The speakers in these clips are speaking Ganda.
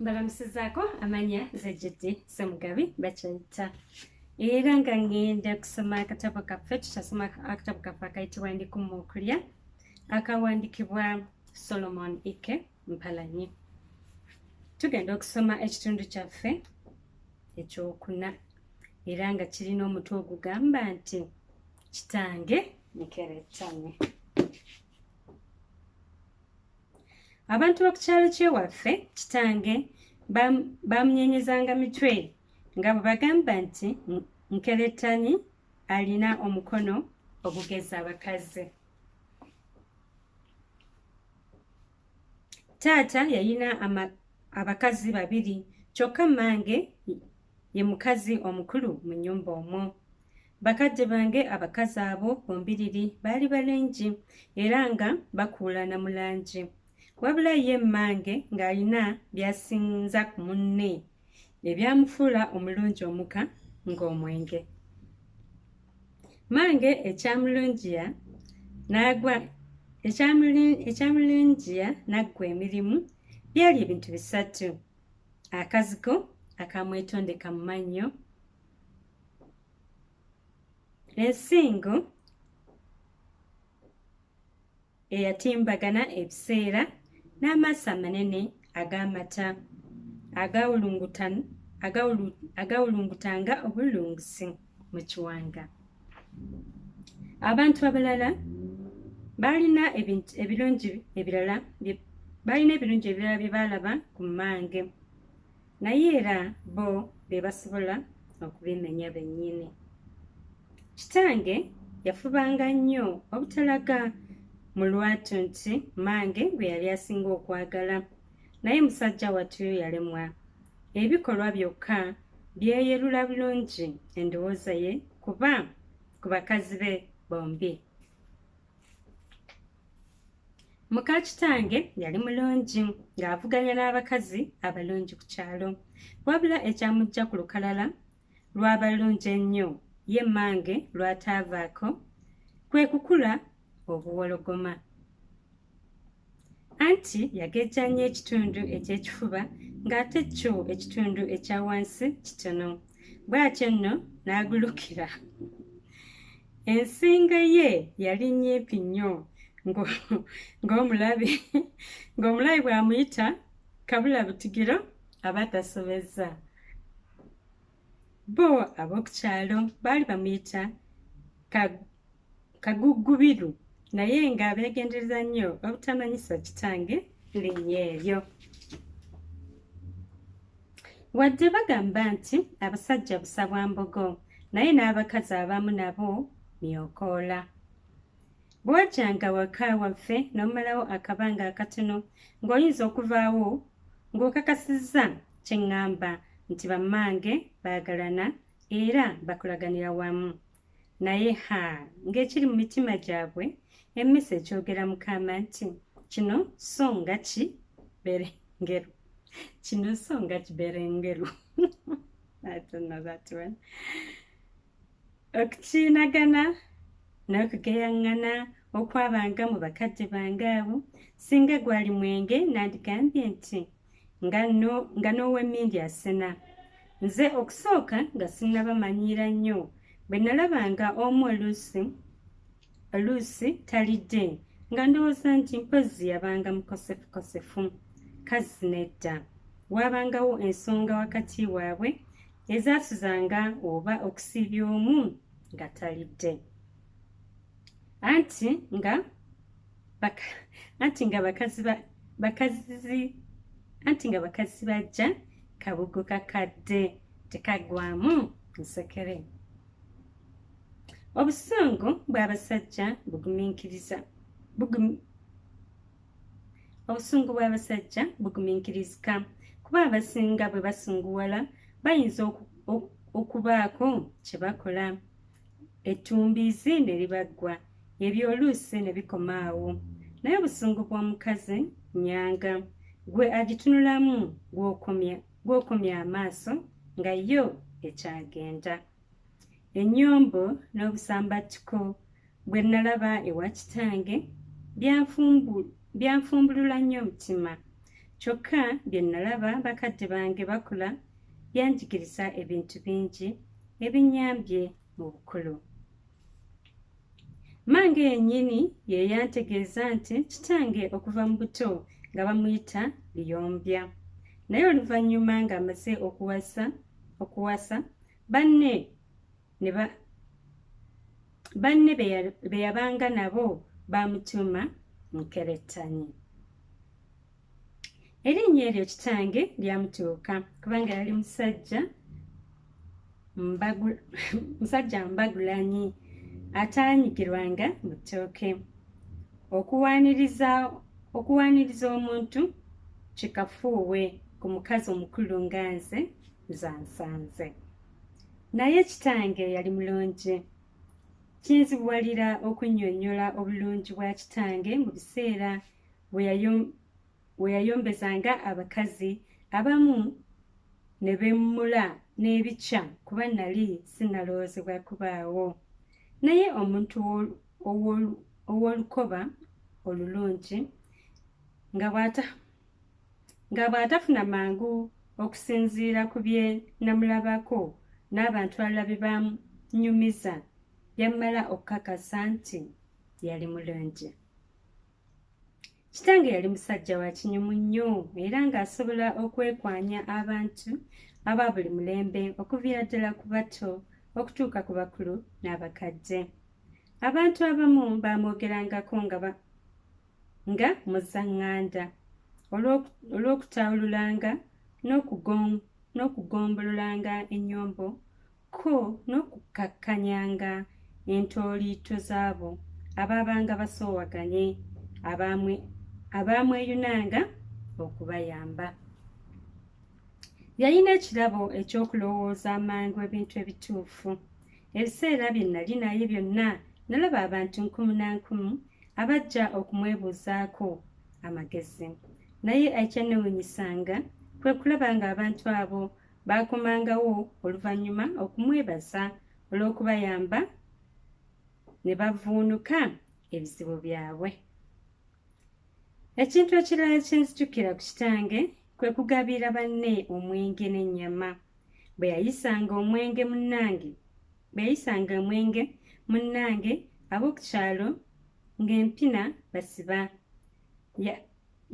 mbalamusizaako amanya nze jiddi semugabi bakyayita era nga ngenda kusoma akatabo kaffe tutasoma akatabo kaffe akayitibwa ndikumu okulya akawandikibwa solomon ike mpalanyi tugenda okusoma ekitundu kyaffe ekyokuna era nga kirina omutwe ogugamba nti kitange nikeretane abantu b'okukyalo kyewaffe kitange bamunyenyezanga mitwe nga bwe bagamba nti nkerettanyi alina omukono ogugeza abakazi taata yayina abakazi babiri kyokka mmange ye mukazi omukulu mu nnyumba omwo Bakadde bange abakazi abo bombiriri baali balengi era nga bakuulana mu langi. Wabula ye mmange ng'alina by'asinza ku munne ebyamufuula omulungi omuka ng'omwenge. Mmange ekyamulungiya n'agwa ekyamulungiya n'aggwa emirimu byali ebintu bisatu akazigo akamwetondeka mu mannyo ensingo eyatimbagana ebiseera n'amaaso amanene ag'amata agawulungutanga obulungusi mu kiwanga abantu abalala baalina ebirungi ebirala baalina ebirungi ebirala bye baalaba ku mmange naye era bo be basobola okubimenya bennyini kitange yafubanga nnyo obutalaga mu lwatu nti mange gwe yali asinga okwagala naye musajja wattu yalemwa ebikolwa byokka byeyerula bulungi endowooza ye kuba ku bakazi be bombi muka kitange yali mulungi ng'avuganya n'abakazi abalungi ku kyalo wabula ekyamujja ku lukalala lw'abalungi ennyo ye mmange lw'ataavaako kwe kukula obuwologoma anti yagejja nnyo ekitundu eky'ekifuba ng'ate kyo ekitundu ekya wansi kitono bw'atyo nno n'agulukira ensinga ye yali nnyimpi nnyo ng'omulabi ng'omulabi bw'amuyita kabula butigiro aba tasobezza bo ab'oku kyalo baali bamuyita kaguggubiru naye nga beegendereza nnyo obutamanyisa kitange linnya eryo wadde bagamba nti abasajja busa bwa mbogo naye n'abakazi abamu nabo myokoola bwajanga waka waffe n'omalawo akabanga akatono ng'oyinza okuvaawo ng'okakasizza kye ŋŋamba nti bammange baagalana era bakulaganira wamu naye ha ng'ekiri mu mitima gyabwe emmisa ekyogera mukama nti kino so nga ki berengeru kino so nga ki berengeru okukiinagana n'okugeyaŋŋana okwabanga mu bakadde bange abo singa gwali mwenge nandigambye nti nga n'owemmindi asena nze okusooka nga sinnabamanyiira nnyo bwe nalabanga omu oluusi oluusi talidde nga ndowooza nti mpozzi yabanga mukosefukosefu kazzi nedda waabangawo ensonga wakati waabwe ezaasuzanga oba okusiibya omu nga talidde anti nga baka anti nga bakazi ba bakazi anti nga bakazi bajja kabugo kakadde tekagwamu nsekere obusungu bw'abasajja bugumiikiriza obusungu bw'abasajja bugumiikirizika kuba abasinga bwe basunguwala bayinza okubaako kye bakola ettumbiizi ne libaggwa ebyoluusi ne bikoma awo naye obusungu bw'omukazi nyanga gwe agitunulamu gw'okomya amaaso nga yo ekyagenda ennyombo n'obusambattuko bwe nnalaba ewa kitange byanfumbulula nnyo omutima kyokka bye nnalaba bakadde bange bakula yanjigiriza ebintu bingi ebinyambye mu bukulu mange yennyini ye yantegeeza nti kitange okuva mu buto nga bamuyita liyombya naye oluvannyuma ng'amaze okuwasa okuwasa banne banne be yabanga nabo baamutuuma nkerettanyi erinnya eryo kitange lyamutuuka kubanga yali musajja musajja mbagulanyi ataanyigirwanga mu ttooke okuwaaniriza omuntu kikafuuwe ku mukazi omukulu nga nze zansanze naye kitange yali mulungi kinzibuwalira okunnyonnyola obulungi bwa kitange mu biseera we yayombesanga abakazi abamu ne bemmula n'ebikya kuba nali sinalowoozebwa kubaawo naye omuntu ow'olukoba olulungi nga bw'atafuna mangu okusinziira ku bye namulabako n'abantu alala bye banyumiza yammala okukakasa nti yali mulungi kitange yali musajja wa kinyumu nnyo era ng'asobola okwekwanya abantu aba buli mulembe okuviira ddala ku bato okutuuka ku bakulu n'abakadde abantu abamu baamwogerangako nga nga muzaŋŋanda olw'okutaawululanga n'okugombololanga ennyombo ko n'okukkakkanyanga entooliito z'abo abaabanga basoowaganye abaamweyunanga okubayamba yalina ekirabo eky'okulowooza amangu ebintu ebituufu ebiseera bye nali naye byonna nalaba abantu nkumu na nkumu abajja okumwebuuzaako amagezi naye ekyanewunyisanga kwe kulaba ng'abantu abo baakomangawo oluvannyuma okumwebaza olw'okubayamba ne bavuunuka ebizibu byabwe ekintu ekirala kyenzijukira ku kitange kwe kugabira banne omwenge n'ennyama bwe yayisanga omwenge munnange bwe yayisanga omwenge munnange ab'oku kyalo ng'empina basiba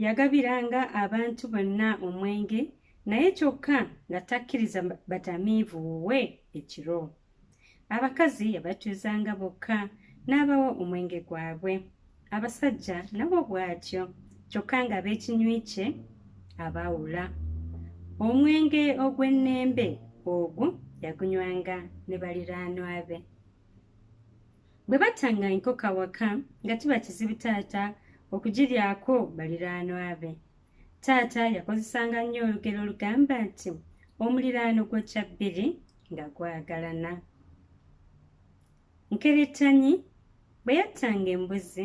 Yagabiranga abantu bonna omwenge naye kyokka nga takkiriza batamiivu wuwe ekiro. Abakazi yabatuuzanga bokka n'abawa omwenge gwabwe. Abasajja nabo bw'atyo kyokka nga b'ekinywi kye abaawula. Omwenge ogw'ennembe ogwo yagunywanga ne baliraanwa be. bwe battanga enkoko awaka nga kiba kizibu taata okugiryako baliraanwa be taata yakozesanga nnyo olugero olugamba nti omuliraano gwokya bbiri nga gwagalana nkerettanyi bwe yattanga embuzi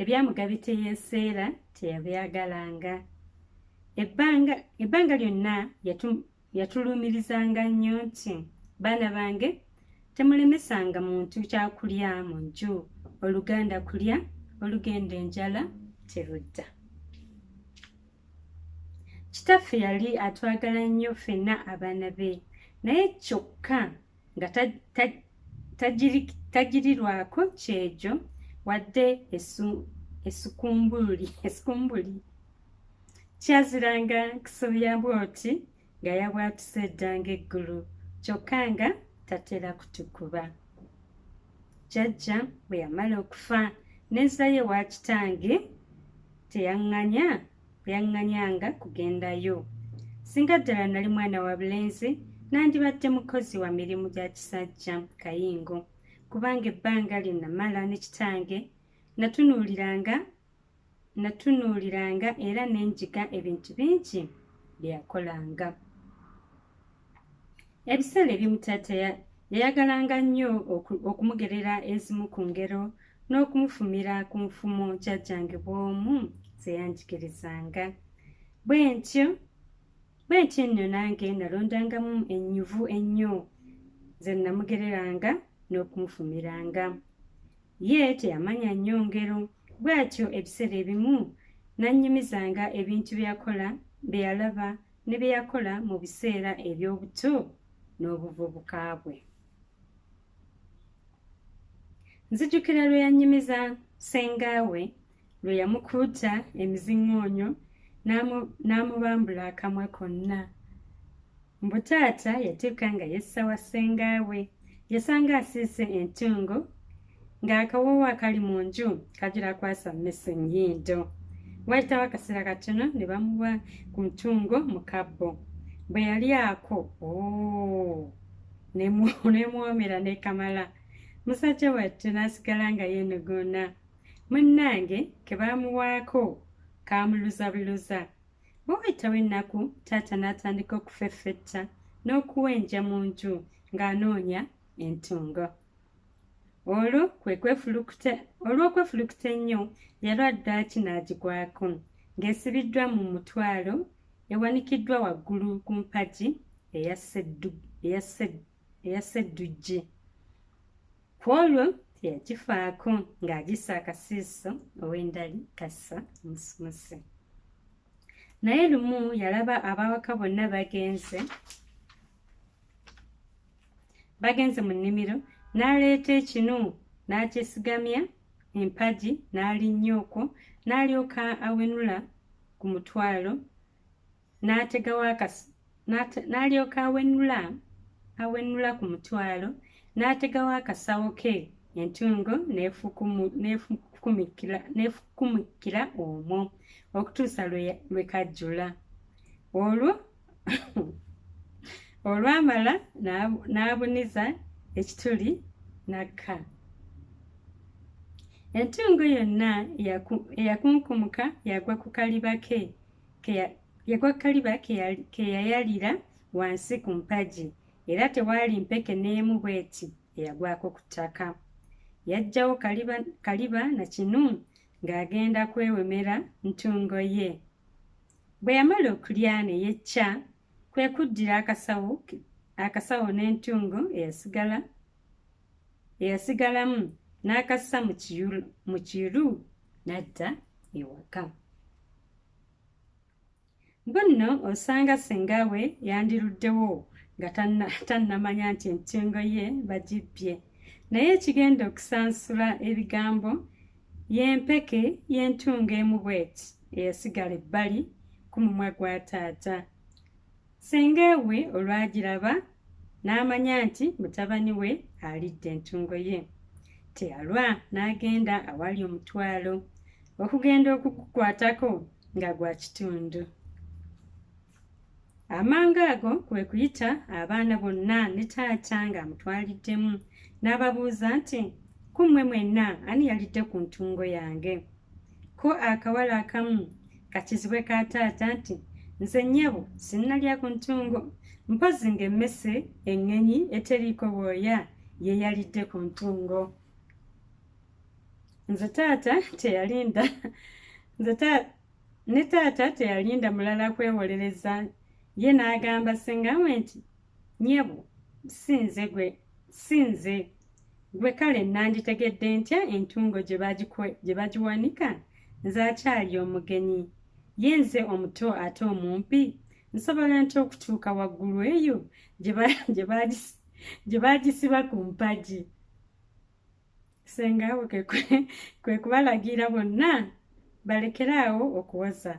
ebyamugabi teyeseera teyabyagalanga ebbanga lyonna yatuluumirizanga nnyo nti baana bange temulemesanga muntu kyakulya mu nju oluganda kulya olugenda enjala terudda kitaffe yali atwagala nnyo ffenna abaana be naye kyokka nga tagirirwako kyejo wadde esikumbuli esikumbuli kyaziranga kusobya bwoti nga yabwatuse eddanga eggulu kyokka nga tatera kutukuba jajja bwe yamala okufa nezaye wakitange teyaŋŋanya bwe yaŋŋanyanga kugendayo. Singa ddala nali mwana wa bulenzi, nandibadde mukozi wa mirimu gya kisajja kayingo, kubanga ebbanga lye namala ne kitange natunuuliranga natunuuliranga era ne njiga ebintu bingi bye yakolanga. Ebiseera ebimu taata yayagalanga nnyo okumugerera ezimu ku ngero n'okumufumira ku nfumo jjajjange bw'omu ze yanjigirizanga. Bwe ntyo bwe ntyo nno nange nalondangamu ennyuvu ennyo ze nnamugereranga n'okumufumiranga. Ye teyamanya nnyo ngero bw'atyo ebiseera ebimu nannyumizanga ebintu byakola bye yalaba ne bye yakola mu biseera eby'obuto n'obuvubuka bwe. Nzijukira lwe yannyumiza ssengaawe lwe yamukuuta emiziŋŋoonyo n'amubambula akamwa konna. Mbu taata yatuuka nga yessa wa ssengaawe yasanga asiise entungo ng'akawoowo akali mu nju kagira kwasa mmese nnyindo waayitawo akaseera katono ne bamuwa ku ntungo mu kabbo bwe yali ako oh, nemwomera nekamala musajja wattu n'asigala nga yeenuguuna munnange ke baamuwaako kaamuluzabiluza bwe waayitawo ennaku taata n'atandika okufeffetta n'okuwenja mu nju ng'anoonya entungo olwo kwe kwefulukuta olw'okwefulukuta ennyo yalwa ddaaki n'agigwako ng'esibiddwa mu mutwalo ewanikiddwa waggulu ku mpagi eya sedduggi ku olwo teyagifaako ng'agisa akasiiso ow'endali kassa musumuse naye lumu yalaba abawaka bonna bagenze bagenze mu nnimiro n'aleeta ekinu n'akyesigamya empagi n'alinnya okwo n'alyoka awenula ku mutwalo n'ategawo akasi n'alyoka awenula awenula ku mutwalo n'ategawo akasawo ke entungo n'efukumikira omwo okutuusa lwe kajjula olwo olwamala n'abuniza ekituli n'akka entungo yonna eyakunkumuka yagwa ku kaliba ke yagwa ku kaliba ke yayalira wansi ku mpagi era tewaali mpeke n'emu bw'eti eyagwako ku ttaka yajjawo kaliba, kaliba na kinu ng'agenda kwewemera ntungo ye Bwe yamala okulya ne yecca, kwe kuddira akasawo ke akasawo n'entungo eyasigala eyasigalamu n'akassa mu kiru n'adda ewaka. Bwe nno osanga ssenga we yandiruddewo nga tannamanya nti entungo ye bagibbye. Naye ekigenda okusansula ebigambo Y'empeke y'entungo emu bw'eti eyasigala ebbali ku mumwa gwa taata. Ssenga we olwagiraba n'amanya nti mutabani we alidde entungo ye. Teyalwa n'agenda awali omutwalo okugenda okugukwatako nga gwa kitundu. amangu ago kwe kuyita abaana bonna ne taata ng'amutwaliddemu n'ababuuza nti ku mmwe mwenna ani yalidde ku ntungo yange ko akawala akamu kakizibwe ka taata nti nze nnyabo sinnalya ku ntungo mpozi ng'emmese eŋŋenyi eteriiko bwoya ye yalidde ku ntungo nze taata teyalinda nze taata Ne taata teyalinda mulala kwewolereza ye n'agamba senga we nti nyebo si nze gwe si nze gwe kale nanditegedde ntya entungo gye bagiwanika nze akyali omugenyi ye nze omuto ate omumpi nsobola nti okutuuka waggulu eyo gye baagisiba ku mpagi senga we kwe kubalagira bonna balekere awo okuwoza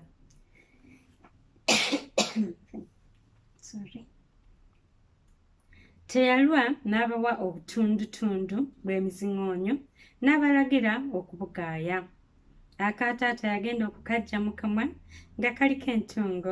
teyalwa n'abawa obutundutundu bw'emiziŋoonyo n'abalagira okubugaaya akaataata yagenda okukajja mu kamwa nga kaliko entungo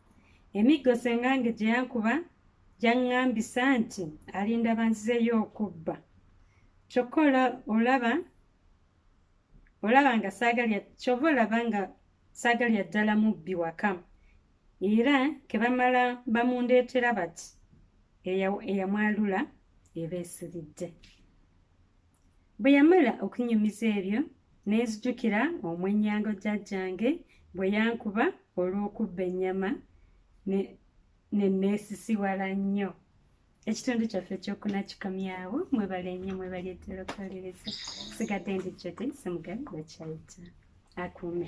Emiggo ssengange gye yankuba gyaŋŋambisa nti alinda banzizeyo okubba kyokka olaba olaba nga saagalya kyova olaba nga saagalya ddala mubbi waka era ke bamala bamundeetera bati eyamwalula eba esiridde Bwe yamala okunyumiza ebyo ne nzijukira omwennyango jjajjange bwe yankuba olw'okubba ennyama ne nneesisiwala nnyo ekitundu kyaffe ekyokuna kikomyawo mwebale nnyo mwebali eddala okuwaliriza sigadde ndi jodi semugabi wekyayita akuume